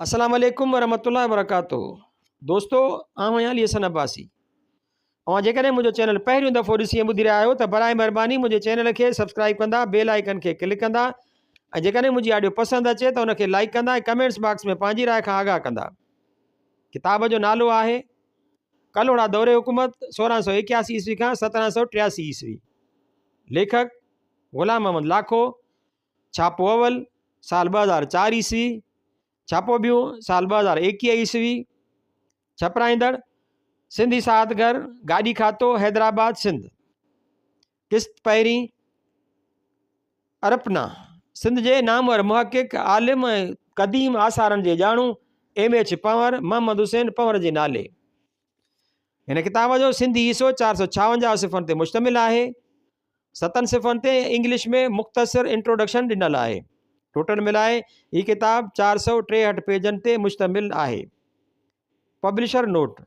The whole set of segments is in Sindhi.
السلام عليڪم ورحمة الله وبرڪاته دوستو آئون آهيان علي حسن عباسي اوهان جيڪڏهن منهنجو چينل پهريون دفعو ڏسي ٻڌي رهيا آهيو ته برائي مهرباني منهنجي چينل کي سبسڪرائب ڪندا بيل آئيڪن کي ڪلڪ ڪندا ۽ جيڪڏهن منهنجي آڊيو پسند اچي ته ان کي لائڪ ڪندا ۽ ڪمينٽس باڪس ۾ پنهنجي راء کان آگاهه ڪندا ڪتاب جو نالو آهي ڪلهوڙا دور حڪومت سورهن سو اڪياسي عيسوي کان سترهن سو ٽياسي عيسوي ليکڪ غلام محمد لاکو ڇاپو اول، سال ٻه هزار چار عيسوي، ڇاپو ٻيو، سال ٻه هزار ايڪيهه عيسوي، ڇپرائيندڙ، سنڌ اشاعت گهر، گاڏي کاتو، حيدرآباد، سنڌ. قسط پهرين، ارپنا، سنڌ جي نامور محقق، عالم ۽ قديم آثارن جي ڄاڻو ايم ايڇ پنور، محمد حسين پنور جي نالي، هن ڪتاب جو سنڌي حصو چار سو ڇاونجاهه صفحن تي مشتمل آهي ستن صفحن تي انگلش ۾ مختصر انٽروڊڪشن ڏنل آهي ٽوٽل ملائي هي ڪتاب چار سو ٽيهٺ پيجن تي مشتمل آهي پبلشر نوٽ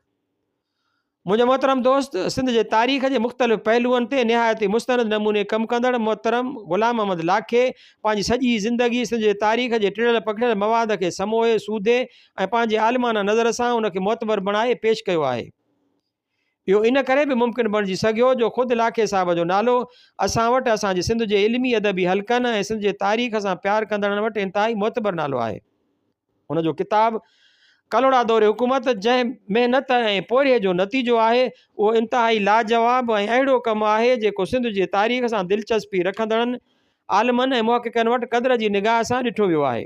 منهنجو محترم دوست سنڌ جي تاريخ جي مختلف پهلوئن تي نهايت ئي مستند نموني ڪم ڪندڙ محترم غلام محمد لاکي پنهنجي سڄي زندگي سنڌ جي تاريخ جي ٽڙيل پکڙيل مواد کي سموهي سوڌي ۽ پنهنجي عالمانه نظر سان ان کي معتبر بڻائي پيش ڪيو آهي. اهو ان ڪري به ممڪن بڻجي سگهيو جو خود لاکي صاحب جو نالو اسان وٽ اسان جي سنڌ جي علمي ادبي حلقن ۽ سنڌ جي تاريخ سان پيار ڪندڙن وٽ انتهائي معتبر نالو آهي. هن جو ڪتاب ڪلهوڙا دور حڪومت جنهن محنت ۽ پورهيي جو نتيجو آهي اهو انتهائي لاجواب ۽ اهڙو ڪم آهي جيڪو سنڌ جي تاريخ سان دلچسپي رکندڙن عالمن ۽ محققن وٽ قدر جي نگاهه سان ڏٺو ويو آهي.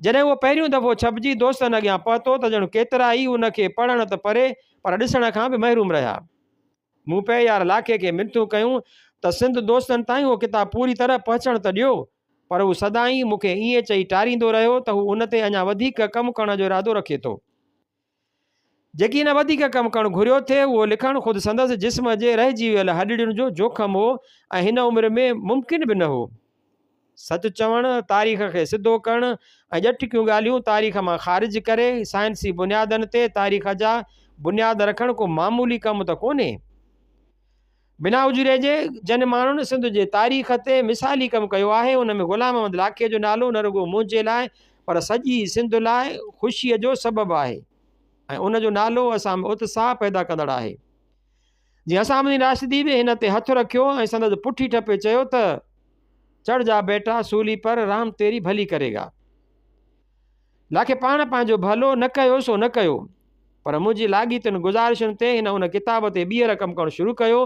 جڏهن اهو پهريون دفعو ڇپجي دوستن اڳيان پهتو ته ڄڻ ڪيترا ئي ان کي پڙهڻ ته پري پر ڏسڻ کان به محروم رهيا. مون پهيار لاکي کي منٿون ڪيون ته سنڌ دوستن تائين اهو ڪتاب پوري طرح پهچڻ ته ڏيو پر هو سدائين مون کي ائين چئي ٽاريندو رهيو ته هو ان تي اڃا وڌيڪ ڪم ڪرڻ جو ارادو رکي ٿو. جيڪي هن وڌيڪ ڪم ڪرڻ گهريو ٿي اهو لکڻ خود سندس جسم جي رهجي ويل هڏڙين جو جوکم هو ۽ هن عمر ۾ ممڪن به نه هو. سچ چوڻ، تاريخ کي سڌو ڪرڻ ۽ ڄٽڪيون ڳالهيون تاريخ مان خارج ڪري سائنسي بنيادن تي تاريخ جا بنياد رکڻ ڪو معمولي ڪم ته ڪونهي. بنا اجوري جي جن ماڻهن سنڌ جي تاريخ تي مثالي ڪم ڪيو آهي ان ۾ غلام محمد لاکي جو نالو نه رڳو منهنجي لاء پر سڄي سنڌ لاء خوشي جو سبب آهي ۽ ان جو نالو اسان ۾ اتساهه پيدا ڪندڙ آهي جي اسان مدين راشدي به هن تي هٿ رکيو ۽ سندس پٺي ٺپي چيو ته چڙ جا بيٽا سولي پر رام تيري ڀلي ڪري گا لاکي پاڻ پنهنجو ڀلو نه ڪيو سو نه ڪيو پر منهنجي لاڳيتين گذارشن تي هن ان ڪتاب تي ٻيهر ڪم ڪرڻ شروع ڪيو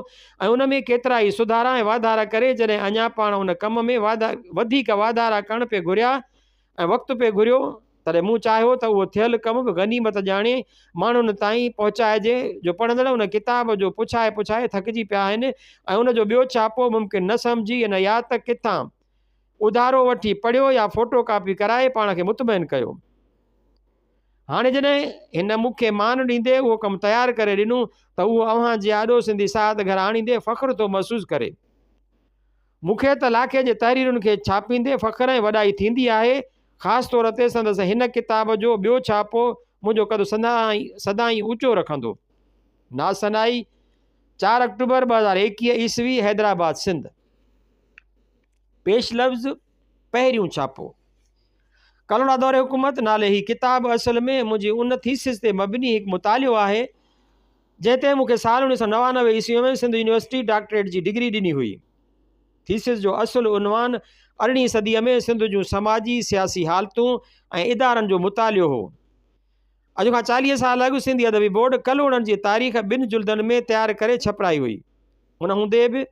۽ ان ۾ ڪيترا ئي سڌارا ۽ واڌارا ڪري جڏهن اڃا پاڻ ان ڪم ۾ واڌا وڌيڪ واڌارا ڪرڻ پئي گهريا ۽ وقت پئي گهريو تڏهن مون چاهيو ته اهو ٿيل ڪم به غنيمت ڄاڻي ماڻهن تائين پهچائجي جو پڙهندڙ ان ڪتاب جو پڇائي پڇائي ٿڪجي پيا آهن ۽ ان جو ٻيو ڇاپو ممڪن نه سمجهي ان يا ته ڪٿان اڌارو وٺي پڙهيو يا فوٽو ڪاپي ڪرائي پاڻ کي مطمئن ڪيو. هاڻي جڏهن هن مون کي مان ڏيندي اهو ڪم تيار ڪري ڏنو ته اهو اوهان جي آڏو سنڌي ساهت گهر آڻيندي فخر ٿو محسوس ڪري. مون کي ته لاکي جي تحريرن کي ڇاپيندي فخر ۽ وڏائي ٿيندي آهي، خاص طور تي سندس هن ڪتاب جو ٻيو ڇاپو منهنجو قد سدائين اوچو رکندو. نازثنائي، چار آڪٽوبر ٻه هزار ايڪيهه عيسوي حيدرآباد سنڌ. پيش لفظ، پهريون ڇاپو، ڪلهوڙا دور حڪومت نالي هي ڪتاب اصل ۾ منهنجي ان ٿيسز تي مبني هڪ مطالعو آهي، جنهن تي مون کي سال اڻويهه سؤ نوانوي عيسويء ۾ سنڌ يونيورسٽي ڊاڪٽريٽ جي ڊگري ڏني هئي. ٿيسز جو اصل عنوان ارڙهين صديء ۾ سنڌ جون سماجي، سياسي حالتون ۽ ادارن جو مطالعو هو. اڄ کان چاليهه سال اڳ سنڌي ادبي بورڊ ڪلهوڙن جي تاريخ ٻن جلدن ۾ تيار ڪري ڇپرائي هئي. ان هوندي به،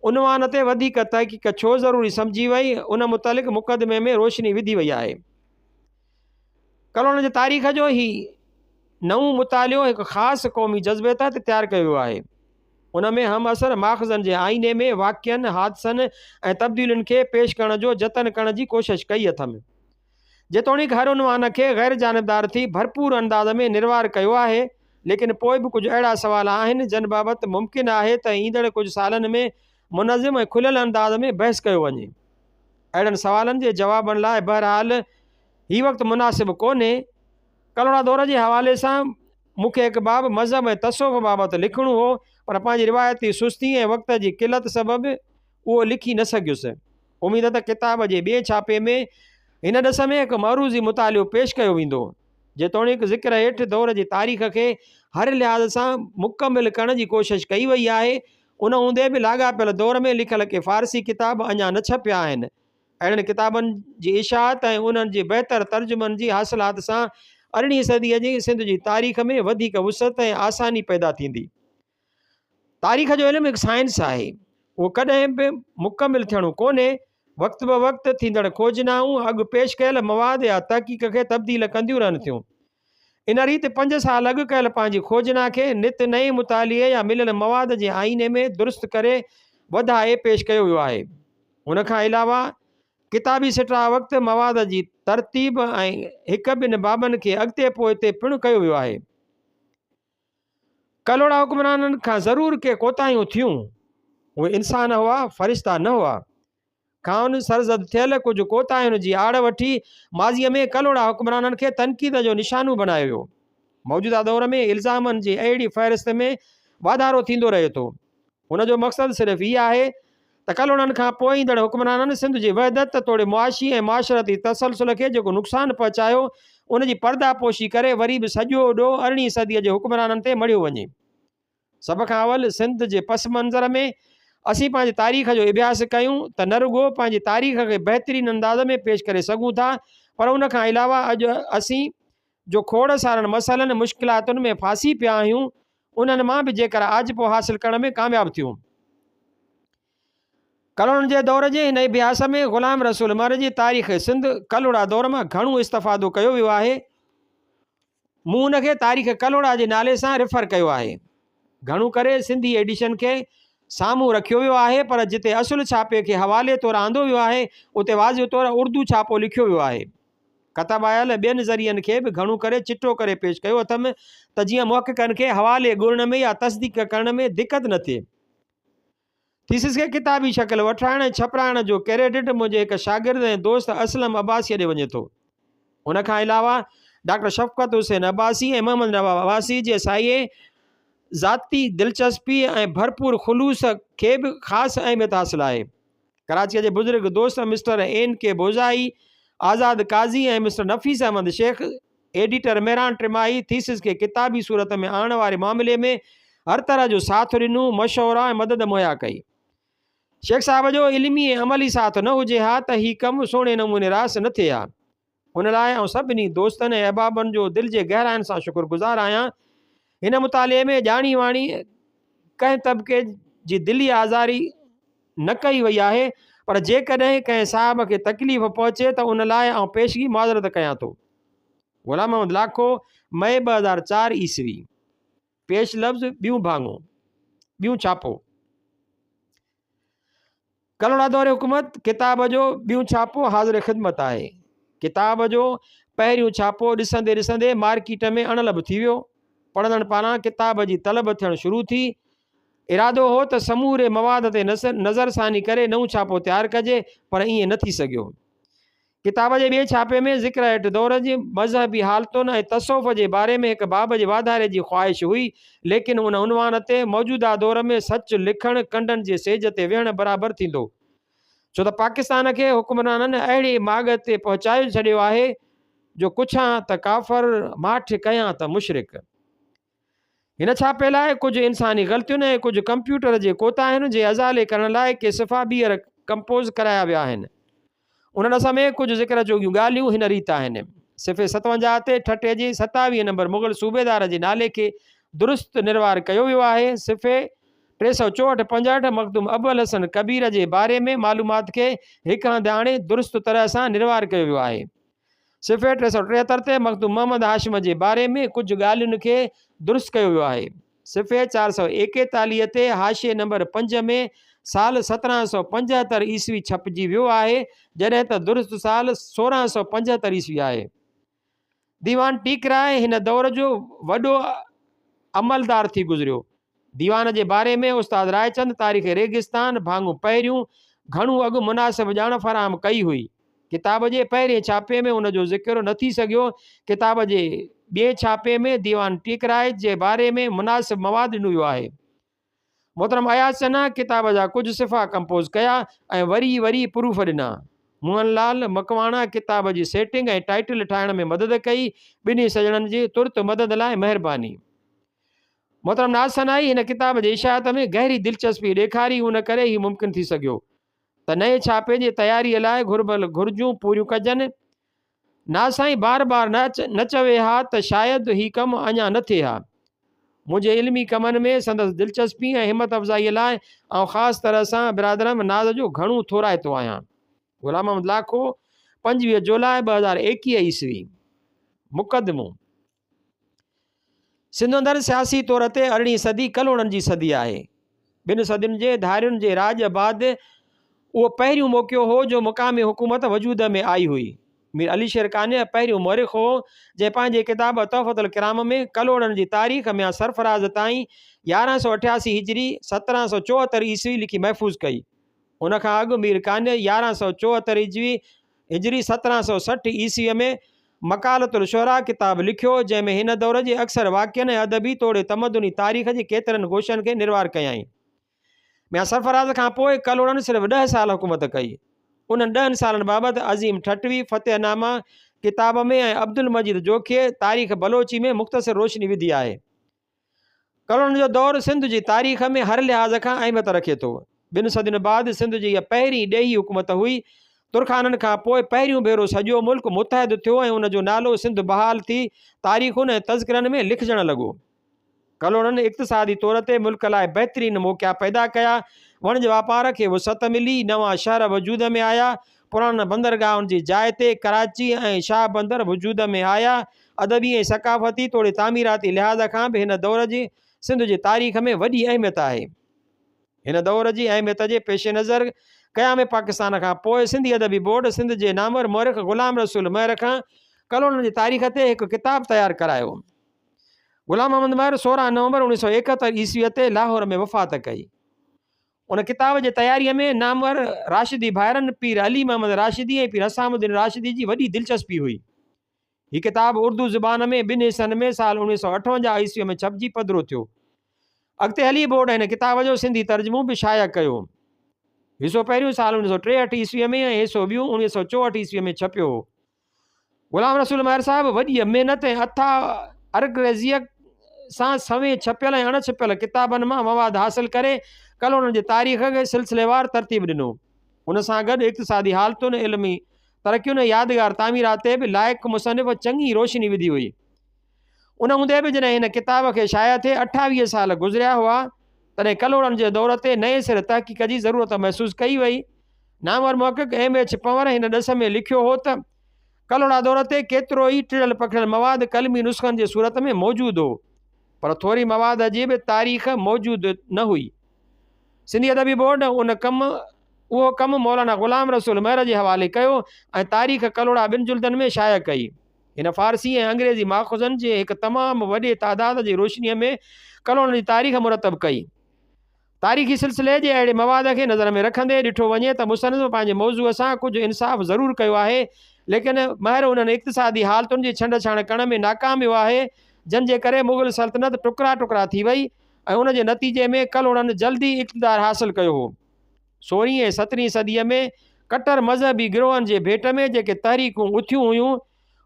عنوان تي وڌيڪ تحقيق ڇو ضروري سمجهي وئي ان متعلق مقدمي ۾ روشني وڌي وئي آهي. ڪلهوڙن جي تاريخ جو هي نئون مطالعو هڪ خاص قومي جذبي تحت تيار ڪيو ويو آهي. ان ۾ همعصر ماخذن جي آئيني ۾ واقعن، حادثن ۽ تبديلين کي پيش ڪرڻ جو جتن ڪرڻ جي ڪوشش ڪئي اٿم. جيتوڻيڪ هر عنوان کي غير جانبدار ٿي ڀرپور انداز ۾ نروار ڪيو آهي ليڪن پوء به ڪجهه اهڙا سوال آهن جن بابت ممڪن آهي ته ايندڙ ڪجهه سالن ۾ منظم ۽ کليل انداز ۾ بحث ڪيو وڃي. اهڙن سوالن جي جوابن لاء بهرحال هي وقت مناسب ڪونهي. ڪلهوڙا دور جي حوالي سان مون کي هڪ باب مذهب ۽ تصوف بابت لکڻو هو پر پنهنجي روايتي سستي ۽ وقت جي قلت سبب اهو لکي نه سگهيس. اميد ته ڪتاب جي ٻئي ڇاپي ۾ هن ڏس ۾ هڪ معروضي مطالعو پيش ڪيو ويندو. جيتوڻيڪ ذڪر هيٺ دور جي تاريخ کي هر لحاظ سان مڪمل ڪرڻ جي ڪوشش ڪئي وئي آهي، ان هوندي به لاڳاپيل دور ۾ لکيل ڪي فارسي ڪتاب اڃا نه ڇپيا آهن. اهڙن ڪتابن جي اشاعت ۽ انهن جي بهتر ترجمن جي حاصلات سان ارڙهين صديء جي سنڌ جي تاريخ ۾ وڌيڪ وسعت ۽ آساني پيدا ٿيندي. تاريخ جو علم هڪ سائنس آهي. اهو ڪڏهن به مڪمل ٿيڻو ڪونهي. وقت بوقت ٿيندڙ کوجنائون اڳ پيش ڪيل مواد يا تحقيق کي تبديل ڪنديون رهن ٿيون. ان ريت پنج سال اڳ ڪيل پنهنجي کوجنا کي نت نئين مطالعي يا مليل مواد جي آئيني ۾ درست ڪري وڌائي پيش ڪيو ويو آهي. ان کان علاوه ڪتابي سٽاء وقت مواد جي ترتيب ۽ هڪ ٻن بابن کي اڳتي پوئتي پڻ ڪيو ويو آهي. ڪلهوڙا حڪمرانن کان ضرور ڪي ڪوتاهيون ٿيون، اهي انسان هئا، فرشتا نه هئا. کانئن سرزد ٿيل ڪجهه ڪوتاهين جي آڙ وٺي ماضيء ۾ ڪلهوڙا حڪمرانن کي تنقيد جو نشانو بڻايو ويو. موجوده دور ۾ الزامن جي اهڙي فهرست ۾ واڌارو ٿيندو رهي ٿو. ان جو مقصد صرف هي آهي تڪلوڙن کان پوء ايندڙ حڪمرانن سنڌ جي وحدت توڙي معاشي ۽ معاشرتي تسلسل کي جيڪو نقصان پهچايو، ان جي پرداپوشي ڪري وري به سڄو ڏوهه ارڙهين صديء جي حڪمرانن تي مڙهيو وڃي. سڀ کان اول سنڌ جي پس منظر ۾ اسين پنهنجي تاريخ جو اڀياس ڪيون ته نه رڳو پنهنجي تاريخ کي بهترين انداز ۾ پيش ڪري سگهون ٿا پر ان کان علاوه اڄ اسين جو کوڙ سارن مسئلن، مشڪلاتن، ۾ ڦاسي پيا آهيون، انهن مان به جيڪر آجپو حاصل ڪرڻ ۾ ڪامياب ٿيون. ڪلهوڙن جي دور جي هن اڀياس ۾ غلام رسول مهر جي تاريخ سنڌ ڪلهوڙا دور مان گهڻو استفادو ڪيو ويو آهي. مون ان کي تاريخ ڪلهوڙا جي نالي سان ريفر ڪيو آهي. گهڻو ڪري سنڌي ايڊيشن کي سامهون رکيو ويو آهي پر جتي اصل ڇاپي کي حوالي طور آندو ويو آهي اتي واضح طور اردو ڇاپو لکيو ويو آهي. ڪتبايل ٻين ذريعن کي به گهڻو ڪري چٽو ڪري پيش ڪيو اٿم ته جيئن محققن کي حوالي ڳڻڻ ۾ يا تصديق ڪرڻ ۾ دقت نه ٿئي. ٿيسز کي ڪتابي شڪل وٺرائڻ ۽ ڇپرائڻ جو ڪريڊٽ منهنجي هڪ شاگرد ۽ دوست اسلم عباسيء ڏي وڃي ٿو. ان کان علاوه ڊاڪٽر شفقت حسين عباسي ۽ محمد نواب عباسي جي سايي ذاتي دلچسپيء ۽ ڀرپور خلوص کي به خاص اهميت حاصل آهي. ڪراچيء جي بزرگ دوست mister N K Bozai, Azad قاضي ۽ مسٽر نفيس احمد شيخ، ايڊيٽر مهراڻ ٽماهي، ٿيسز کي ڪتابي صورت ۾ آڻڻ واري معاملي ۾ هر طرح جو ساٿ ڏنو، مشورا ۽ مدد مهيا ڪئي. شيخ صاحب جو علمي ۽ عملي ساٿ نه هجي ها ته هي ڪم سهڻي نموني راس نه ٿئي ها. ان لاء آئون سڀني دوستن ۽ احبابن جو دل جي گهراين سان شڪر گذار آهيان. هن مطالعي ۾ ڄاڻي واڻي ڪنهن طبقي جي دلي آزاري نه ڪئي وئي آهي پر جيڪڏهن ڪنهن صاحب کي تڪليف پهچي ته ان لاء آئون پيشگي معذرت ڪيان ٿو. غلام محمد لاکو، مئي ٻه هزار چار عيسوي. پيش لفظ ٻيون ڀاڱو، ٻيون ڇاپو. ڪلهوڙا دور حڪومت ڪتاب جو ٻيون ڇاپو حاضر خدمت آهي. ڪتاب جو پهريون ڇاپو ڏسندي ڏسندي مارڪيٽ ۾ اڻلڀ ٿي ويو. پڙهندڙن پاران ڪتاب جي طلب ٿيڻ شروع ٿي. ارادو هو ته سموري مواد تي نظرثاني ڪري نئون ڇاپو تيار ڪجي پر ائين نه ٿي سگهيو. ڪتاب جي ٻئي ڇاپي ۾ ذڪر هيٺ دور جي مذهبي حالتن ۽ تصوف جي باري ۾ هڪ باب جي واڌاري جي خواهش هئي، ليڪن ان عنوان تي موجوده دور ۾ سچ لکڻ ڪنڊن جي سيج تي ويهڻ برابر ٿيندو. ڇو ته پاڪستان کي حڪمرانن اهڙي ماڳ تي پهچائي ڇڏيو آهي جو ڪڇان ته ڪافر، ماٺ ڪيان ته مشرڪ. هن ڇاپي لاء ڪجهه انساني غلطين ۽ ڪجهه ڪمپيوٽر جي ڪوتاهين جي ازالي ڪرڻ لاء ڪي صفحا ٻيهر ڪمپوز ڪرايا ويا آهن. انهن سمي ڪجهه ذڪر جوڳيون ڳالهيون هن ريت آهن. صفحي ستونجاهه تي ٺٽي جي ستاويهه نمبر مغل صوبيدار جي نالي کي درست نروار ڪيو ويو آهي. صفحي ٽي سؤ چوهٺ پنجهٺ مخدوم ابوالحسن ڪبير جي باري ۾ معلومات کي هڪ هنڌ آڻي درست طرح سان نروار ڪيو ويو آهي. صفحي ٽي سؤ ٽيهتر تي مخدوم محمد هاشم جي باري ۾ ڪجهه ڳالهين کي درست ڪيو ويو آهي. صفحي چار سؤ ايڪيتاليهه تي حاشيي نمبر پنج ۾ سال سترهن سؤ پنجهتر عيسوي ڇپجي ويو آهي، جڏهن ته درست سال سورهن سؤ پنجهتر عيسوي آهي. ديوان ٽيڪرائي هن دور جو وڏو عملدار ٿي گذريو. ديوان جي باري ۾ استاد رائچند تاريخ ريگستان ڀاڱو پهريون گهڻو اڳ مناسب ڄاڻ فراهم ڪئي هئي. ڪتاب جي پهرين ڇاپي ۾ ان جو ذڪر نه ٿي سگهيو. ڪتاب جي ٻئين ڇاپي ۾ ديوان ٽيڪرائچ جي باري ۾ مناسب مواد ڏنو ويو آهي. محترم اياز چنا ڪتاب جا ڪجهه صفحا ڪمپوز ڪيا ۽ وري وري پروف ڏنا. موهن لعل مڪواڻا ڪتاب جي سيٽنگ ۽ ٽائيٽل ٺاهڻ ۾ مدد ڪئي. ٻنهي سڄڻن جي ترت مدد لاء مهرباني. محترم ناز سنائي هن ڪتاب جي اشاعت ۾ گهري دلچسپي ڏيکاري ان ڪري هي ممڪن ٿي سگهيو ته نئين ڇاپي جي تياري لاء گهربل گهرجون پوريون ڪجن ناز سائين بار بار نه نه چوي ها ته شايد هي ڪم اڃا نه ٿئي ها منهنجي علمي ڪمن ۾ سندس دلچسپي ۽ همت افزائي لاء آئون خاص طرح سان برادرم ناز جو گهڻو ٿورائتو آهيان غلام محمد لاکو پنجويهه جولاء ٻه هزار ايڪيهه عيسوي مقدمو سنڌ اندر سياسي طور تي ارڙهين صدي ڪلهوڙن جي صدي آهي. ٻن صدين جي ڌارين جي راڄ بعد اهو پهريون موقعو هو جو مقامي حڪومت وجود ۾ آئي هئي. مير علي شير قانع پهريون مؤرخ هو جنهن پنهنجي ڪتاب تحفة الڪرام ۾ ڪلهوڙن جي تاريخ ميان سرفراز تائين يارهن سؤ اٺياسي هجري، سترهن سؤ چوهتر عيسوي لکي محفوظ ڪئي. ان کان اڳ مير قانع يارهن سؤ چوهتر هجوي، هجري سترهن سؤ سٺ عيسويء ۾، مقالة الشعراء ڪتاب لکيو، جنهن ۾ هن دور جي اڪثر واقعن ۽ ادبي توڙي تمدني تاريخ جي ڪيترن گوشن کي نروار ڪيائين. ميان سرفراز کان پوء ڪلهوڙن صرف ڏهه سال حڪومت ڪئي. انهن ڏهن سالن بابت عظيم ٺٽوي، فتح نامه، ڪتاب ۾ ۽ عبدالمجيد جوکيء، تاريخ بلوچي، ۾ مختصر روشني وڌي آهي. ڪرڻ جو دور سنڌ جي تاريخ ۾ هر لحاظ کان اهميت رکي ٿو. ٻن صدين بعد سنڌ جي اها پهرين ڏيهي حڪومت هئي. ترخانن کان پوء پهريون ڀيرو سڄو ملڪ متحد ٿيو ۽ ان جو نالو سنڌ بحال ٿي تاريخن ۽ تذڪرن ۾ لکجڻ لڳو. ڪلهوڙن اقتصادي طور تي ملڪ لاء بهترين موقعا پيدا ڪيا. وڻج واپار کي وسعت ملي، نوان شهر وجود ۾ آيا، پراڻن بندرگاهن جي جاء تي ڪراچي ۽ شاهه بندر وجود ۾ آيا. ادبي ۽ ثقافتي توڙي تعميراتي لحاظ کان به هن دور جي سنڌ جي تاريخ ۾ وڏي اهميت آهي. هن دور جي اهميت جي پيش نظر قيام پاڪستان کان پوء سنڌي ادبي بورڊ سنڌ جي نامور مؤرخ غلام رسول مهر کان ڪلهوڙن جي تاريخ تي هڪ ڪتاب تيار ڪرايو. غلام محمد مهر سورهن نومبر اوڻيھ سؤ ايڪهتر عيسويء تي لاهور ۾ وفات ڪئي. ان ڪتاب جي تياريء ۾ نامور راشدي ڀائرن پير علي محمد راشدي ۽ پير حسام الدين راشدي جي وڏي دلچسپي هئي. هي ڪتاب اردو زبان ۾ ٻن حصن ۾ سال اوڻويهه سؤ اٺونجاهه عيسويء ۾ ڇپجي پڌرو ٿيو. اڳتي هلي بورڊ هن ڪتاب جو سنڌي ترجمو به شايع ڪيو. حصو پهريون سال اوڻويهه سؤ ٽيهٺ عيسويء ۾ ۽ حصو ٻيون اوڻويهه سؤ چوهٺ عيسويء ۾ ڇپيو هو. غلام رسول مهر صاحب وڏيء محنت ۽ اٿاهه ارگريزيء سان سوين ڇپيل ۽ اڻ ڇپيل ڪتابن مان مواد حاصل ڪري ڪالونين جي تاريخ کي سلسليوار ترتيب ڏنو. ان سان گڏ اقتصادي حالتن، علمي ترقين ۽ يادگار تعميرات تي به لائق مصنف چڱي روشني وڌي هئي. ان هوندي به جڏهن هن ڪتاب کي شايع ٿئي اٺاويهه سال گذريا هئا، تڏهن ڪلهوڙن جي دور تي نئين سر تحقيق جي ضرورت محسوس ڪئي وئي. نامور محقق ايم ايڇ پنور هن ڏس ۾ لکيو هو ته، ڪلهوڙا دور تي ڪيترو ئي ٽڙيل پکڙيل مواد قلمي نسخن جي صورت ۾ موجود هو، پر ٿوري مواد جي به تاريخ موجود نه هئي. سنڌي ادبي بورڊ ان ڪم اهو ڪم مولانا غلام رسول مهر جي حوالي ڪيو ۽ تاريخ ڪلهوڙا ٻن جلدن ۾ شايع ڪئي. هن فارسي ۽ انگريزي ماخذن جي هڪ تمام وڏي تعداد جي روشنيء ۾ ڪلهوڙن جي تاريخ مرتب ڪئي. تاريخي سلسلي جي اهڙي مواد کي نظر ۾ رکندي ڏٺو وڃي ته مصنف پنهنجي موضوع سان ڪجهه انصاف ضرور ڪيو آهي، ليڪن مهر انهن اقتصادي حالتن جي ڇنڊ ڇاڻ ڪرڻ ۾ ناڪام ويو آهي، جن جي ڪري مغل سلطنت ٽڪرا ٽڪرا ٿي وئي ۽ ان جي نتيجي ۾ ڪلهوڙن جلدي اقتدار حاصل ڪيو هو. سورهين ۽ سترهين صديء ۾ ڪٽر مذهبي گروهن جي ڀيٽ ۾ جيڪي تحريڪون اٿيون هيون،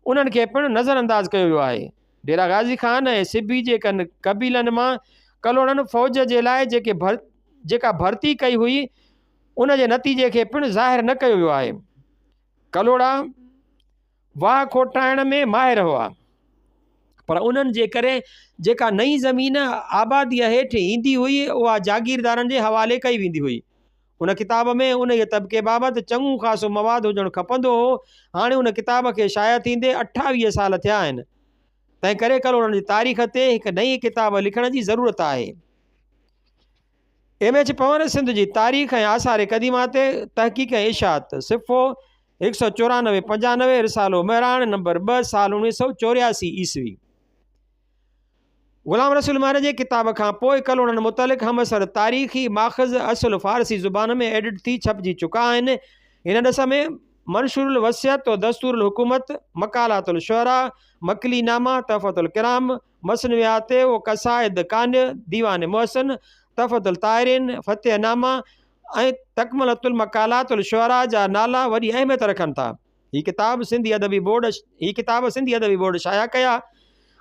انهن کي پڻ نظر انداز ڪيو ويو آهي. ڊيرا غازي خان ۽ سبي جي ڪن قبيلن مان ڪلهوڙن فوج جي لاء جيڪي جيڪا ڀرتي ڪئي هئي، ان جي نتيجي کي پڻ ظاهر نه ڪيو ويو آهي. ڪلهوڙا. واهه کوٽائڻ ۾ ماهر هئا پر انهن جي ڪري جيڪا نئين زمين آباديء هيٺ ايندي هئي اها جاگيردارن جي حوالي ڪئي ويندي هئي. ان ڪتاب ۾ انهيء طبقي بابت چڱو خاصو مواد هجڻ کپندو هو. هاڻي ان ڪتاب کي شايع ٿيندي اٺاويهه سال ٿيا آهن. تنهن ڪري ڪلهوڙن جي تاريخ تي هڪ نئين ڪتاب لکڻ جي ضرورت آهي. ايم ايڇ پنور سنڌ جي تاريخ ۽ آثار قديمه تي تحقيق ۽ اشاعت، صفحو هڪ سؤ چورانوي پنجانوي، رسالو مهراڻ نمبر ٻه، سال اوڻويهه سؤ چورياسي عيسوي. غلام رسول مهر جي ڪتاب کان پوء ڪلهوڙن متعلق همعصر تاريخي ماخذ اصل فارسي زبان ۾ ايڊٽ ٿي ڇپجي چڪا آهن. هن ڏس ۾ منشور الوصيت و دستور الحڪومت، مقالات الشعراء، مڪلي نامه، تحفة الڪرام، مثنويات و قصائد، ڪانء، ديوان محسن، تحفة الطاهرين، فتح نامه ۽ تڪملة المقالات الشعراء جا نالا وڏي اهميت رکن ٿا. هي ڪتاب سنڌي ادبي بورڊ هي ڪتاب سنڌي ادبي بورڊ شايع ڪيا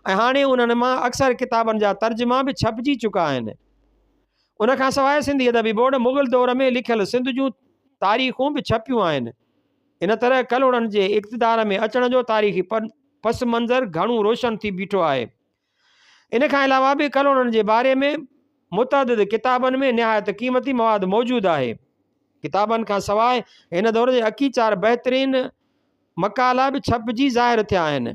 ۽ هاڻي انهن مان اڪثر ڪتابن جا ترجما به ڇپجي چڪا آهن. ان کان سواء سنڌي ادبي بورڊ مغل دور ۾ لکيل سنڌ جون تاريخون به ڇپيون آهن. ان طرح ڪلهوڙن جي اقتدار ۾ اچڻ جو تاريخي پس منظر گهڻو روشن ٿي بيٺو آهي. ان کان علاوه به ڪلهوڙن جي باري ۾ متعدد ڪتابن ۾ نهايت قيمتي مواد موجود آهي. ڪتابن کان سواء هن دور جي اڪي چار بهترين مقالا به ڇپجي ظاهر ٿيا آهن.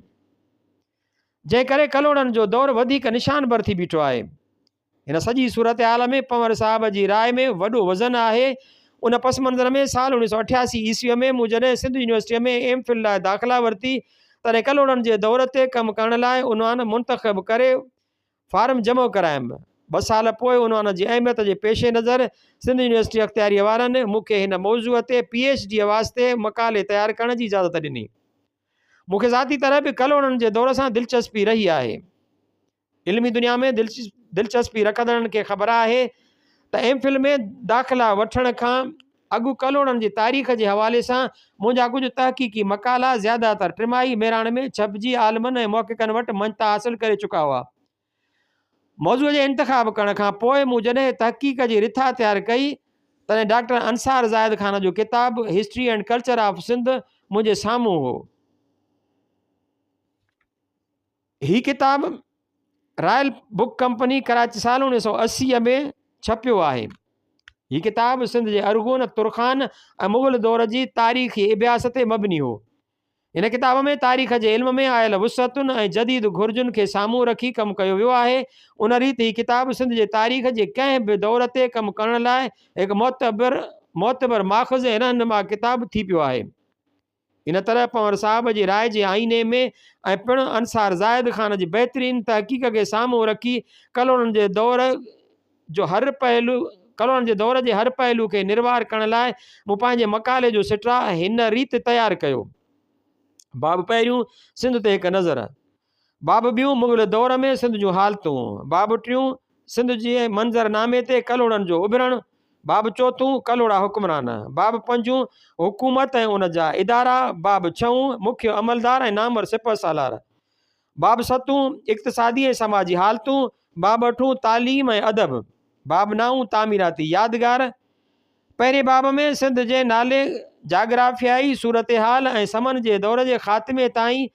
جنهن ڪري ڪلهوڙن جو دور وڌيڪ نشان بر ٿي بيٺو آهي. هن سڄي صورتحال ۾ پنور صاحب جي راء ۾ وڏو وزن آهي. ان پس منظر ۾ سال اوڻيھ سؤ اٺياسي عيسويء ۾ مون جڏهن سنڌ يونيورسٽيء ۾ ايم فل لاء داخلا ورتي، تڏهن ڪلهوڙن جي دور تي ڪم ڪرڻ لاء عنوان منتخب ڪري فارم جمع ڪرايم. ٻه سال پوء عنوان جي اهميت جي پيش نظر سنڌ يونيورسٽي اختياريء وارن مون کي هن موضوع تي پي ايڇ ڊيء واسطي مقالي تيار ڪرڻ جي اجازت ڏني. مون کي ذاتي طرح به ڪلهوڙن جي دور سان دلچسپي رهي آهي. علمي دنيا ۾ دلچسپي رکندڙن کي خبر آهي ته ايم فل ۾ داخلا وٺڻ کان اڳ ڪلهوڙن جي تاريخ جي حوالي سان منهنجا ڪجهه تحقيقي مقالا زياده تر ٽماهي مهراڻ ۾ ڇپجي عالمن ۽ محققن وٽ مڃتا حاصل ڪري چڪا هئا. موضوع جي انتخاب ڪرڻ کان پوء مون جڏهن تحقيق جي رٿا تيار ڪئي تڏهن ڊاڪٽر انصار زاهد خان جو ڪتاب history and culture of Sindh منهنجي سامهون هو. هي ڪتاب رائل بڪ ڪمپني ڪراچي سال اوڻيهه سو اسي ۾ ڇپيو آهي هي ڪتاب سنڌ جي ارغون ترخان ۽ مغل دور جي تاريخي ابياس تي مبني هو هن ڪتاب ۾ تاريخ جي علم ۾ آيل وسعتن ۽ جديد گهرجن کي سامهون رکي ڪم ڪيو ويو آهي ان ريت هي ڪتاب سنڌ جي تاريخ جي ڪنهن به دور تي ڪم ڪرڻ لاء هڪ معتبر معتبر ماخذ ۽ رهنما ڪتاب ٿي پيو آهي ان طرح پنور صاحب جي راء جي آئيني ۾ ۽ پڻ انصار زاهد خان جي بهترين تحقيق کي سامهون رکي ڪلهوڙن جي دور جو هر پهلو ڪلهوڙن جي دور جي هر پهلو کي نروار ڪرڻ لاء مون پنهنجي مقالي جو سٽراء هن ريت تيار ڪيو باب پهريون سنڌ تي هڪ نظر باب ٻيون، مغل دور ۾ سنڌ جون حالتون، باب ٽيون، سنڌ جي منظر نامي تي ڪلهوڙن جو اڀرڻ، باب چوٿون، ڪلهوڙا حڪمران، باب پنجون، حڪومت ۽ ان جا ادارا، باب ڇهون، مکيه عملدار ۽ نامور سپه سالار، باب ستون، اقتصادي ۽ سماجي حالتون، باب اٺون، تعليم ۽ ادب، باب نائون، تعميراتي يادگار، پهرين باب ۾ سنڌ جي نالي، جاگرافيائي صورتحال ۽ سمن جي دور جي خاتمي تائين،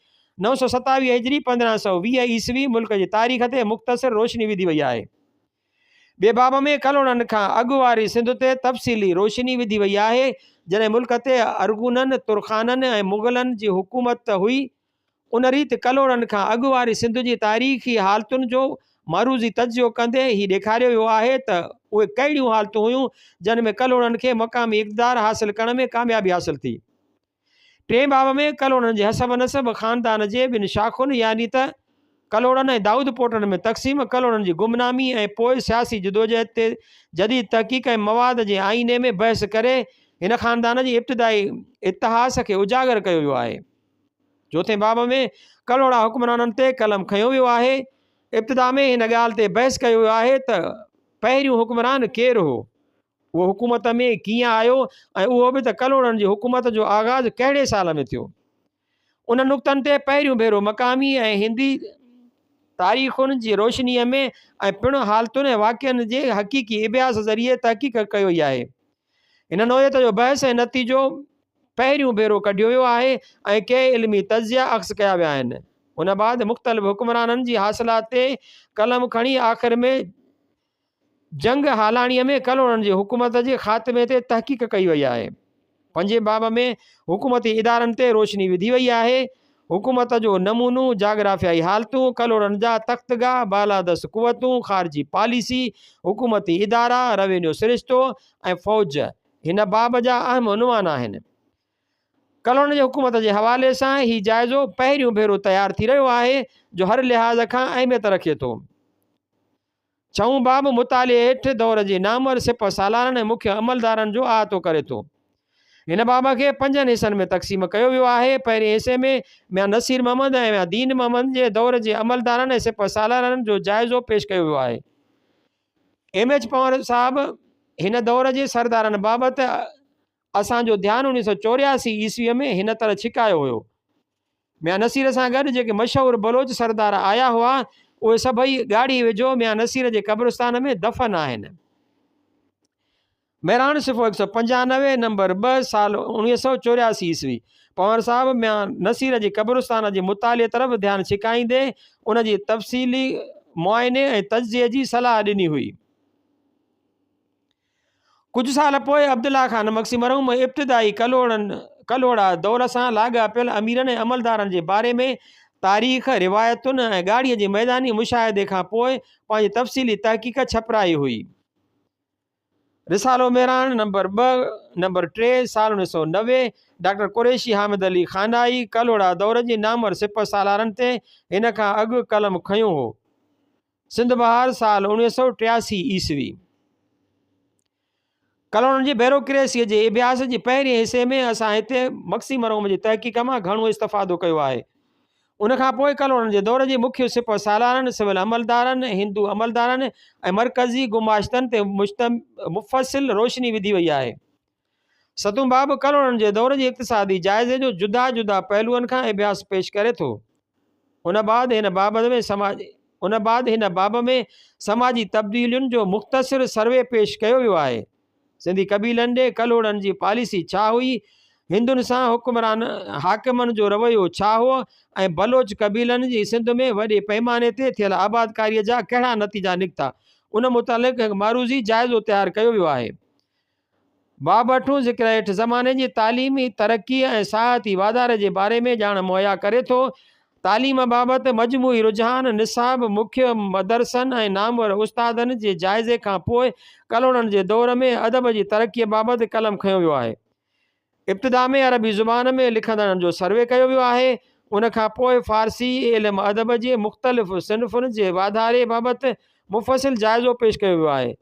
نو سؤ ستاويهه هجري، پندرهن سؤ ويهه عيسوي، ملڪ جي تاريخ تي مختصر روشني وڌي وئي آهي. ٻئي باب ۾ ڪلهوڙن کان اڳ واري سنڌ تي تفصيلي روشني وڌي وئي آهي، جڏهن ملڪ تي ارغونن، ترخانن ۽ مغلن جي حڪومت هئي، ان ريت ڪلهوڙن کان اڳ واري سنڌ جي تاريخي حالتن جو معروضي تجزيو ڪندي هي ڏيکاريو ويو آهي ته اهي ڪهڙيون حالتون هيون جن ۾ ڪلهوڙن کي مقامي اقتدار حاصل ڪرڻ ۾ ڪاميابي حاصل ٿي. ٽئين باب ۾ ڪلهوڙن جي حسب نسب خاندان جي ٻن شاخن يعني ته ڪلهوڙن ۽ دائودپوٽن ۾ تقسيم، ڪلهوڙن جي گمنامي ۽ پوء سياسي جدوجهد تي جديد تحقيق ۽ مواد جي آئيني ۾ بحث ڪري هن خاندان جي ابتدائي اتهاس کي اجاگر ڪيو ويو آهي. چوٿين باب ۾ ڪلهوڙا حڪمرانن تي قلم کنيو ويو آهي ابتدا ۾ هن ڳالهه تي بحث ڪيو ويو آهي ته پهريون حڪمران ڪير هو اهو حڪومت ۾ ڪيئن آيو ۽ اهو به ته ڪلهوڙن جي حڪومت جو آغاز ڪهڙي سال ۾ ٿيو ان نقطن تي پهريون ڀيرو مقامي ۽ هندي تاريخن جي روشني ۾ ۽ پڻ حالتن ۽ واقعن جي حقيقي ابياس ذريعي تحقيق ڪيو وئي آهي هن نوعيت جو بحث ۽ نتيجو پهريون ڀيرو ڪڍيو ويو آهي ۽ ڪي علمي تجزيا عڪس ڪيا ويا آهن. ان بعد مختلف حڪمرانن جي حاصلات تي قلم کڻي آخر ۾ جنگ هالاڻيء ۾ ڪلهوڙن جي حڪومت جي خاتمي تي تحقيق ڪئي وئي آهي. پنجين باب ۾ حڪومتي ادارن تي روشني وڌي وئي آهي. حڪومت جو نمونو، جاگرافيائي حالتون، ڪلهوڙن جا تختگاهه، بالادست قوتون، خارجي پاليسي، حڪومتي ادارا، روينيو سرشتو ۽ فوج هن باب جا اهم عنوان آهن. ڪلهوڙن جي حڪومت جي حوالي سان هي جائزو پهريون ڀيرو تيار ٿي رهيو آهي، جو هر لحاظ کان اهميت رکي ٿو. ڇهون باب مطالعي هيٺ دور جي نامور سپهه سالارن ۽ مکيه عملدارن جو احاطو ڪري ٿو. هن باب کي پنجن حصن ۾ تقسيم ڪيو ويو آهي. پهرين حصي ۾ ميان نصير محمد ۽ ميان دين محمد جي دور جي عملدارن ۽ سپهه سالارن جو جائزو پيش ڪيو ويو آهي. ايم ايڇ پنور صاحب هن دور جي سردارن بابت اسان جو ڌيان اڻيهه سؤ چورياسي عيسويء ۾ هن طرح ڇڪايو هيو. ميان نصير سان گڏ جيڪي مشهور بلوچ سردار آيا هئا، اهي سڀئي ڳاڙهي ويجهو ميان نصير جي قبرستان ۾ دفن آهن. مهراڻ، صفحو هڪ سؤ پنجانوي، نمبر ٻه، سال اڻيهه سؤ چورياسي عيسوي. پنهور صاحب ميان نصير جي قبرستان جي مطالعي طرف ڌيان ڇڪائيندي، ان جي تفصيلي معائني ۽ تجزئي جي صلاح ڏني هئي. ڪجهه سال پوء عبدالله خان مگسي مرحوم ابتدائي ڪلهوڙن، ڪلهوڙا، دور سان لاڳاپيل اميرن ۽ عملدارن جي باري ۾ تاريخ، روايتن ۽ ڳاڙهيء جي ميداني مشاهدي کان پوء پنهنجي تفصيلي تحقيق ڇپرائي هئي. رسالو مهراڻ نمبر ٻه، نمبر ٽي، سال اڻويهه سؤ نوي، ڊاڪٽر قريشي حامد علي خانائي ڪلهوڙا دور جي نامور سپه سالارن تي هن کان اڳ قلم کنيو هو. سنڌ بهار سال اوڻويهه سؤ ٽياسي عيسوي ڪلونن جي بيروڪريسيء جي اڀياس جي پهرين حصي ۾ اسان هتي مڪسي مروم جي تحقيق مان گهڻو استفادو ڪيو آهي. ان کان پوء ڪلونن جي دور جي مکيه سپهه سالارن، سول عملدارن، هندو عملدارن ۽ مرڪزي گماشتن تي مفصل روشني وڌي وئي آهي. ستون باب ڪلهوڙن جي دور جي اقتصادي جائزي جو جدا جدا پهلوئن کان اڀياس پيش ڪري ٿو. ان بعد هن باب ۾ سماجي ان بعد هن باب ۾ سماجي تبديلين جو مختصر سروي پيش ڪيو ويو آهي. سنڌي قبيلن ڏي ڪلهوڙن جي پاليسي ڇا هئي، هندن سان حڪمران حاڪمن جو رويو ڇا هو ۽ بلوچ قبيلن جي سنڌ ۾ وڏي پئماني تي ٿيل آبادڪاري جا ڪهڙا نتيجا نڪتا، ان متعلق هڪ معروضي جائزو تيار ڪيو ويو آهي. باب اٺون ذڪر هيٺ زماني جي تعليمي ترقيء ۽ سياحتي واڌاري جي باري ۾ ڄاڻ مهيا ڪري ٿو. تعليم بابت مجموعي رجحان، نصاب، مکيه مدرسن ۽ نامور استادن جي جائزي کان پوء ڪلهوڙن جي دور ۾ ادب جي ترقيء بابت قلم کنيو ويو آهي. ابتدا ۾ عربي زبان ۾ لکندڙن جو سروي ڪيو ويو آهي، ان کان پوء فارسي علم ادب جي مختلف صنفن جي واڌاري بابت مفصل جائزو پيش ڪيو ويو آهي.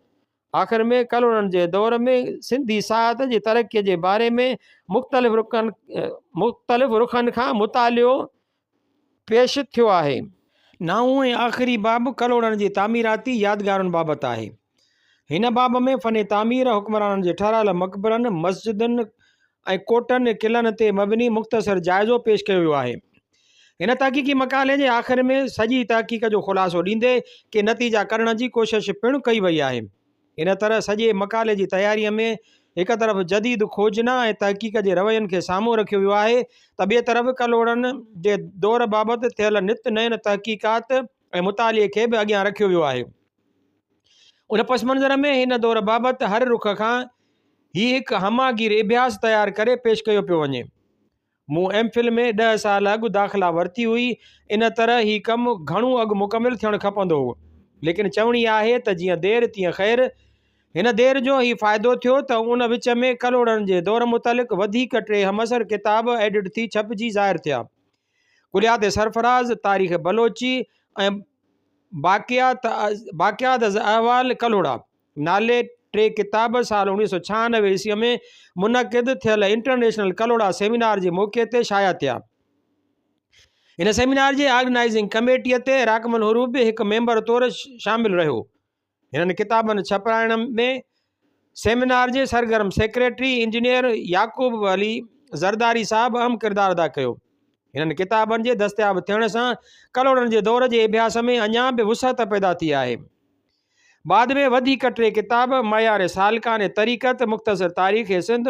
آخر ۾ ڪلهوڙن جي دور ۾ سنڌي ساهت جي ترقيء جي باري ۾ مختلف رخن مختلف رخن کان مطالعو پيش ٿيو آهي. نائون ۽ آخري باب ڪلهوڙن جي تعميراتي يادگارن بابت آهي. هن باب ۾ فن تعمير، حڪمرانن جي ٺهرايل مقبرن، مسجدن ۽ ڪوٽن، قلعن تي مبني مختصر جائزو پيش ڪيو ويو آهي. هن تحقيقي مقالي جي آخر ۾ سڄي تحقيق جو خلاصو ڏيندي ڪي نتيجا ڪڍڻ جي ڪوشش پڻ ڪئي وئي آهي. ان طرح سڄي مقالي جي تياريء ۾ هڪ طرف جديد کوجنا ۽ تحقيق جي روين کي سامهون رکيو ويو آهي ته ٻئي طرف ڪلهوڙن جي دور بابت ٿيل نت نين تحقيقات ۽ مطالعي کي به اڳيان رکيو ويو آهي. ان پس منظر ۾ هن دور بابت هر رخ کان هي هڪ همه گير اڀياس تيار ڪري پيش ڪيو پيو وڃي. مون ايم فل ۾ ڏهه سال اڳ داخلا ورتي هئي، ان طرح هي ڪم گهڻو اڳ مڪمل ٿيڻ کپندو هو. ليڪن چوڻي آهي ته جيئن دير تيئن خير. هن دير جو هي فائدو ٿيو ته ان وچ ۾ ڪلهوڙن جي دور متعلق وڌيڪ ٽي همعصر ڪتاب ايڊٽ ٿي ڇپجي ظاهر ٿيا. ڪليات سرفراز، تاريخ بلوچي ۽ باقيات از احوال ڪلهوڙا. نالي ٽي ڪتاب سال اوڻيهه سؤ ڇهانوي عيسويء ۾ منعقد ٿيل انٽرنيشنل ڪلهوڙا سيمينار جي موقعي تي شايع ٿيا. هن سيمينار جي آرگنائيزنگ ڪميٽيء تي راقم الحروف به هڪ ميمبر طور شامل رهيو. هنن ڪتابن ڇپرائڻ ۾ سيمينار جي سرگرم سيڪريٽري انجنيئر يعقوب علي زرداري صاحب اهم ڪردار ادا ڪيو. هنن ڪتابن جي دستياب ٿيڻ سان ڪلهوڙن جي دور جي اڀياس ۾ اڃا به وسعت پيدا ٿي آهي. بعد ۾ وڌيڪ ٽي ڪتاب، معيار سالڪان طريقت، مختصر تاريخ سنڌ،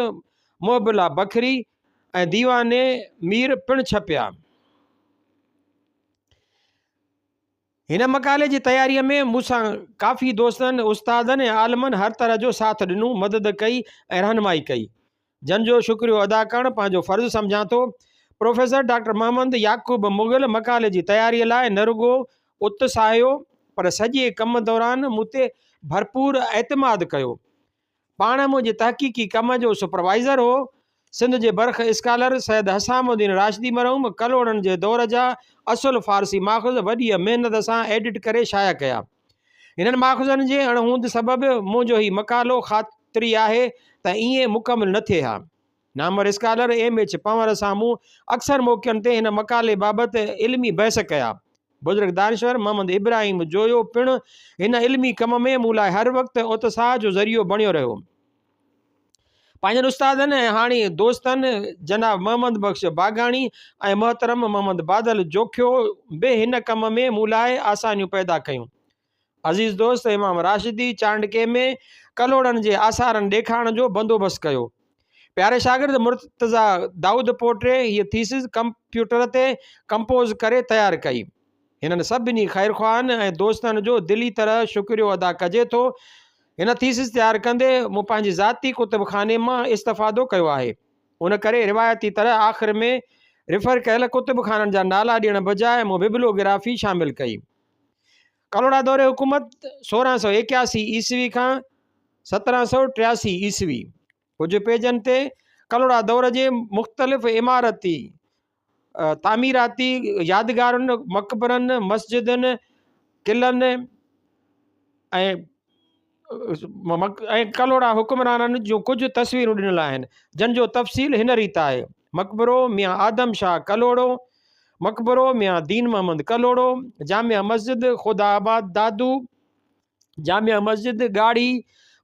محب الله بکري ۽ ديوان مير پڻ ڇپيا. هن مقالي جي تياريء ۾ مون سان ڪافي دوستن، استادن ۽ عالمن هر طرح جو ساٿ ڏنو، مدد ڪئي ۽ رهنمائي ڪئي. جن جو شڪريو ادا ڪرڻ پنهنجو فرض سمجهان ٿو. پروفيسر ڊاڪٽر محمد يعقوب مغل مقالي جي تياريء لاء نه رڳو اتساهيو پر سڄي ڪم دوران مون تي ڀرپور اعتماد ڪيو. پاڻ منهنجي تحقيقي ڪم جو سپروائيزر هو. سنڌ جي برک اسڪالر سيد حسام الدين راشدي مرحوم ڪلهوڙن جي دور جا اصل فارسي ماخذ وڏيء محنت سان ايڊٽ ڪري شايع ڪيا. هنن ماخذن جي اڻ هوند سبب مون جو هي مقالو خاطري آهي ته ائين مڪمل نه ٿئي ها. نامور اسڪالر ايم ايڇ پنور سان مون اڪثر موقعن تي هن مقالي بابت علمي بحث ڪيا. بزرگ دانشور محمد ابراهيم جويو پڻ هن علمي ڪم ۾ مون لاء هر وقت اتساهه جو ذريعو بڻيو رهيو. پنهنجن استادن ۽ هاڻي دوستن جناب محمد بخش باگاڻي ۽ محترم محمد بادل جوکيو به هن ڪم ۾ مون لاء آسانيون پيدا ڪيون. عزيز دوست امام راشدي چانڊڪي ۾ ڪلهوڙن جي آثارن ڏيکارڻ جو بندوبست ڪيو. پياري شاگرد مرتضيٰ دائود پوٽري هيء ٿيسز ڪمپيوٽر تي ڪمپوز ڪري تيار ڪئي. هنن سڀني خيرخواهن ۽ دوستن جو دلي طرح شڪريو ادا ڪجي ٿو. هن ٿيسز تيار ڪندي مون پنهنجي ذاتي ڪتب خاني مان استفادو ڪيو آهي. ان ڪري روايتي طرح آخر ۾ ريفر ڪيل ڪتب خانن جا نالا ڏيڻ بجاء مون ببلوگرافي شامل ڪئي. ڪلهوڙا دور حڪومت سورهن سؤ ايڪياسي عيسوي کان سترهن سؤ ٽياسي عيسوي. ڪجهه پيجن تي ڪلهوڙا دور جي مختلف عمارتي تعميراتي يادگارن مقبرن مسجدن قلعن ۽ ڪلهوڙا حڪمرانن جون ڪجهه تصويرون ڏنل آهن جن جو تفصيل هن ريت آهي مقبرو ميان آدم شاهه ڪلهوڙو مقبرو ميان دين محمد ڪلهوڙو جامع مسجد خدا آباد دادو جامع مسجد ڳاڙهي،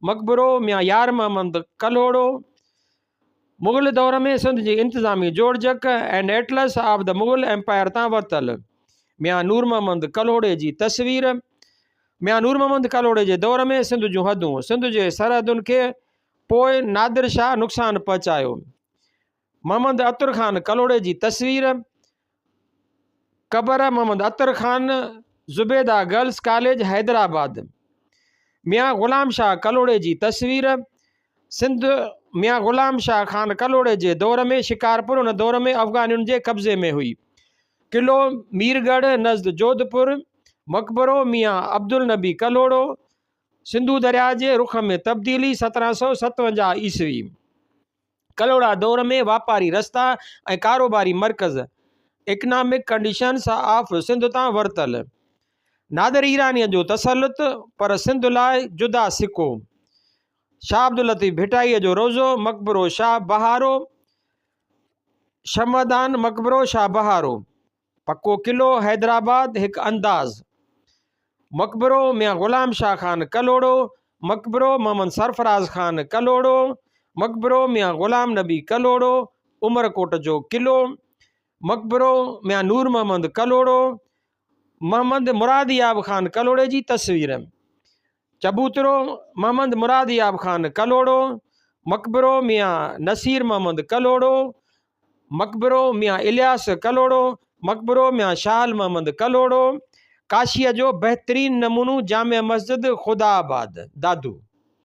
مقبرو ميان يار محمد ڪلهوڙو، مغل دور ۾ سنڌ جي انتظامي جوڙجڪ and atlas of the Mughal empire تان ورتل ميان نور محمد ڪلهوڙي جي تصوير، ميان نور محمد ڪلهوڙي جي دور ۾ سنڌ جون حدون، سنڌ جي سرحدن کي پوء نادر شاهه نقصان پهچايو. محمد عطر خان ڪلهوڙي جي تصوير، قبر محمد عطر خان، زبيده گرلس ڪاليج حيدرآباد. ميان غلام شاهه ڪلهوڙي جي تصوير، سنڌ، ميان غلام شاهه خان ڪلهوڙي جي دور ۾ شڪارپور ان دور ۾ افغانين جي قبضي ۾ هئي. قلعو ميرڳڙهه نزد جوڌپور، مقبرو ميان عبدالنبي ڪلهوڙو، سنڌو درياهه جي رخ ۾ تبديلي، سترهن سؤ ستونجاهه عيسوي. ڪلهوڙا دور ۾ واپاري رستا ۽ ڪاروباري مرڪز اڪنامڪ ڪنڊيشنس آف سنڌ تان ورتل نادر ايرانيء جو تسلط پر سنڌ لاء جدا سڪو شاهه عبداللطيف ڀٽائيء جو روضو مقبرو شاهه بهارو شمعدان مقبرو شاهه بهارو پڪو قلعو حيدرآباد هڪ انداز مقبرو ميان غلام شاهه خان ڪلهوڙو مقبرو محمد سرفراز خان ڪلهوڙو مقبرو ميان غلام نبي ڪلهوڙو عمرڪوٽ جو قلعو مقبرو ميان نور محمد ڪلهوڙو محمد مراد ياب خان ڪلهوڙي جي تصوير چبوترو، محمد مراد اياب خان ڪلهوڙو، مقبرو، ميان نصير محمد ڪلهوڙو، مقبرو، ميان الياس ڪلهوڙو، مقبرو، ميان شال محمد ڪلهوڙو، ڪاشيء جو بهترين نمونو جامع مسجد خدا آباد، دادو.